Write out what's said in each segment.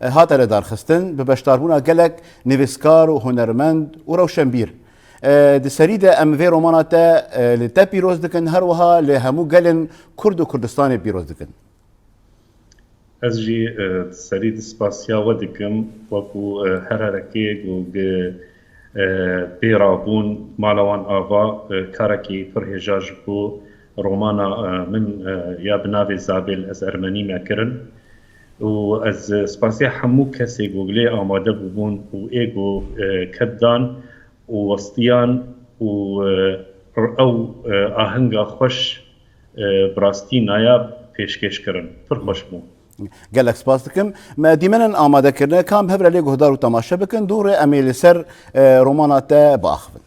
Hate lidarxistin bi beşdarbûna gelek nivîskar û hunermend û rewşenbîr. Di serî de em vê romana te li te pîroz dikin her wiha li hemû gelên Kurd û Kurdistanê pîroz dikin. Ez jî di serî di spasiya we dikim wekû her herekeyek û Bê ra bûn mala wan ava karekî pir hêja ji bo romana min ya bi navê Zabêl ez ermenî me kirin û ez spasîya hemû kesê ku li lê amade bûbûn û ê ku ked dan û westiyan û ew ahenga xweş bi rastî nayab pêşkêş kirin. Pir xweş bû. Gelek spas dikim. Me dîmenên amade kirine kan bi hevrelê guhdar û temaşe bikin. Dû rê em ê li ser romana te biaxivin.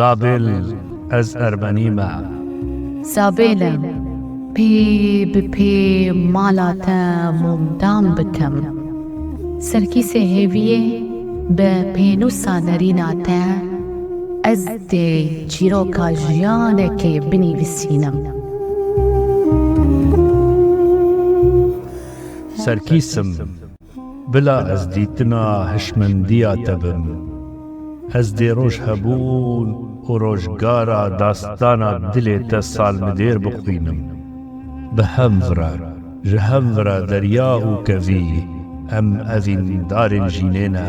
Zabêl ez Ermenî me. Zabêl e pê bi pê mala te mûmdam bikim. Serkîsê hêviyê bi pênûsa nerîna te ez dê çîroka jiyanekê binîvisînim. Serkîsim Bila ez dîtina hişmendiya te bim. Ez dê roj hebûn û rojgara dastana dilê te salmidêr bixwînim. Bi hem vira, ji hem vira derya û kevî em evîn darên jînê ne.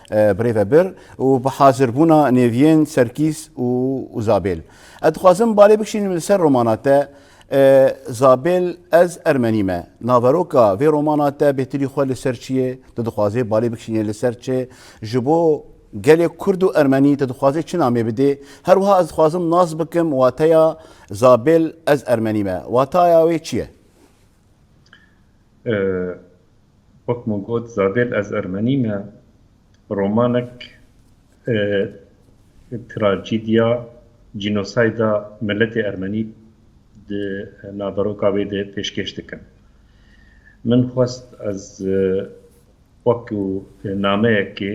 Birêve bir û bi hazirbûna nêviyên Serkîs û Zabêl. Ez dixwazim balê bikişînim li ser romana te Zabêl ez ermenî me. Naveroka vê romana te bêtirî xwe li ser çi ye? Tu dixwazê balê bikişînê li ser çi? Ji bo gelê kurd û ermenî tu dixwazê çi namê bidê? Her wiha ez dixwazim nas bikim wateya Zabêl ez ermenî me. Wataya wê çi ye? wek min got Zadel ez Ermenî me romanek trajîdya cînosayda miletê Ermenî di naveroka wê de pêşkêş dikim. Min xwest ez wekî nameyekê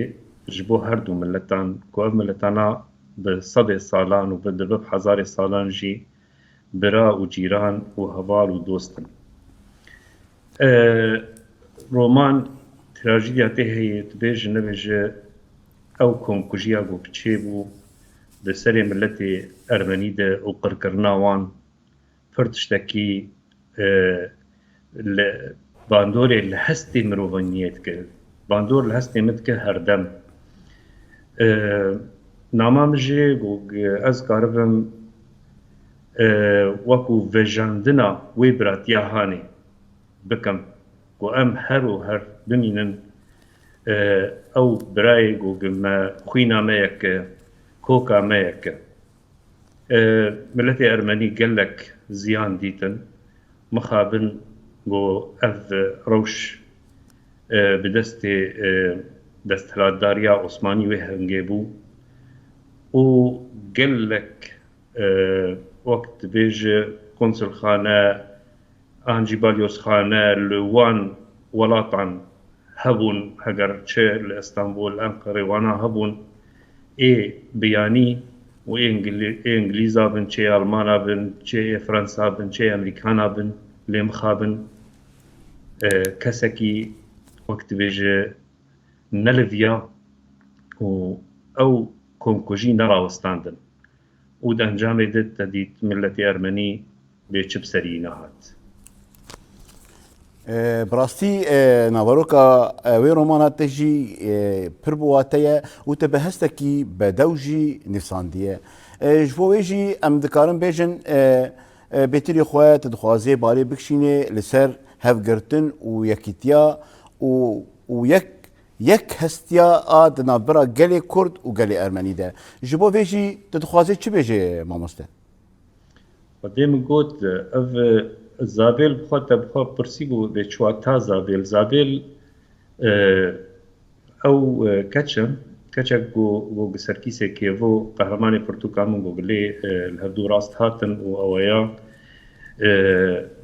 ji bo her du miletan ku ev miletana bi sedê salan û bi di bi hezarê salan jî Bira û cîran û heval û dost in. E roman trajîdya tê heye, tu bêje nebêje ew komkujiya ku çêbû di serê miletê ermenî de û qirkirina wan pir tiştekî li bandorê li hestê mirovanyiyê dike. Bandor li hestê min dike herdem. Nama min jî got ez karibim wekû vejandina wê biratiya hanê bikim ku em her û her bimînin. Ew birayê got me xwîna me yek e, koka me yek e. Miletê ermenî gelek ziyan dîtin. Mixabin ku ev rewş bi destê desthilatdariya Osmanî wê hingê bû û gelek wek dibêje konsulxane an jî balyozxane li wan welatan hebûn heger çi li Istanbul, Enqerê wana hebûn ê bi yanî û ê Ingilîza bin çê Elmana bin çê ê Frensa bin çê Emerîkana bin lê mixabin kesekî wek dibêje neliviya û ew komkujî nerawestandin. û di encamê de te dît miletê ermenî bê çi bi serî nehat. Bi rastî naveroka wê romana te jî pir bi wate ye û te bi hestekî bedew jî nivîsandiye. Ji bo wê jî em dikarin bêjin bêtirî xwe te dixwazê barê bikişînê li ser hevgirtin û yekîtiya û û yek Yek hestiya a di navbera gelê Kurd û gelê Ermenî de. Ji bo vê jî tu dixwazî çi bêjê mamoste? Xwedê min got, ev Zabêl bi xwe te bi xwe pirsî bû vê çi wata Zabêl? Zabêl ew keç in, keçek ku ku bi Serkîsê Kêvo, Qehremanê Pirtûka min ku bi lê li her du rast hatin û aweyan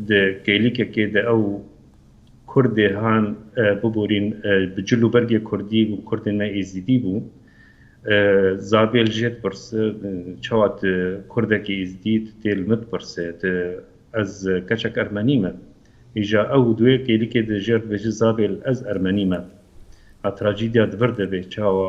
di kêlîkekê de ew, Kurd dê han biborîn bi cil û bergê kurdî û kurdên me êzidî bû. Zabêl jê dipirse çawa tu kurdekî êzidî tu tê li min dipirse tu ez keçek ermenî me. Îja ew û duê kêlikê di jêr dibêje zabêl ez ermenî me. Trajedîa di vir de bê çawa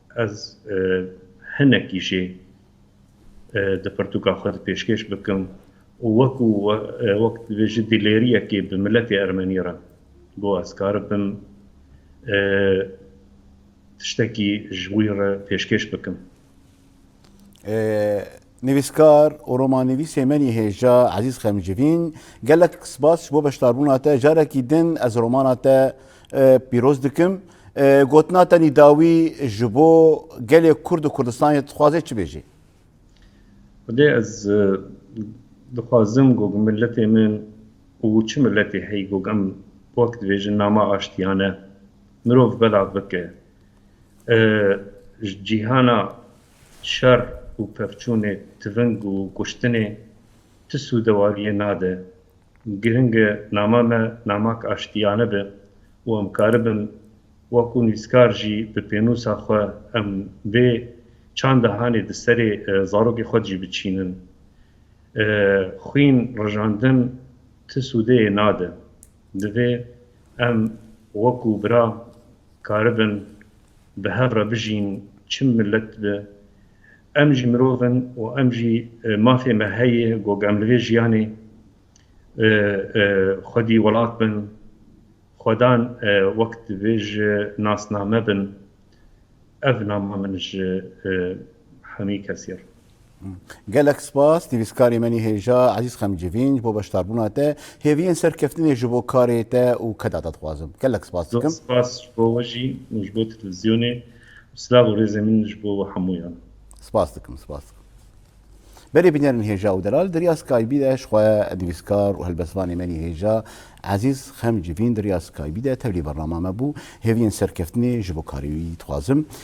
Ez hinekî jê di pirtûka xwe de pêşkêş bikim û wekû wek dibêjin dîlêriyekê bi miletê ermenî re ku ez karibim tiştekî ji wî re pêşkêş bikim. Nivîskar û romannivîsê me yê hêja Ezîz Xemcivîn, gelek spas ji bo beşdarbûna te. Carekî din ez romana te pîroz dikim. Gotina te nîdawî ji bo gelê Kurd û Kurdistanê dixwaze çi bêjê? Xwedê ez dixwazim ku miletê min û çi miletê heye ku em wek dibêjin nama aştiyane mirov belav bike ji cîhana. Şer û pevçûnê tiving û kuştinê ti sû dewariyê nade. Giring e nama me namak aştiyane be û em karibin wekû nivîskar jî bi pênûsa xwe em vê çanda hanê di serê zarokê xwe jî biçînin. Xwîn rijandin ti sûdeyê nade. Divê em wekû bira karibin Bi hev re bijîn çi milet bi. Em jî mirov in û em jî mafê me heye ku em li vê jiyanê xwedî welat bin, xwedan wek divê ji nasname bin. Ev nama min ji hemî kesî re. Gelek spas nivîskarê menî hêja Ezîz Xemcivîn ji bo beşdarbûna te hêviyên serkeftinê ji bo karê te û keda te dixwazim. Gelek spas dikim. Spas ji bo we jî û ji bo televîzyonê û silav û rêzên min ji bo hemûyan. Spas dikim, spas dikim. Berê bînerên hêja û delal di riya Skybee de ji xwe nivîskar û helbestvanê menî hêja Ezîz Xemcivîn di riya Skybee de tevlî bernama me bû. Hêviyên serkeftinê ji bo karê wî dixwazim.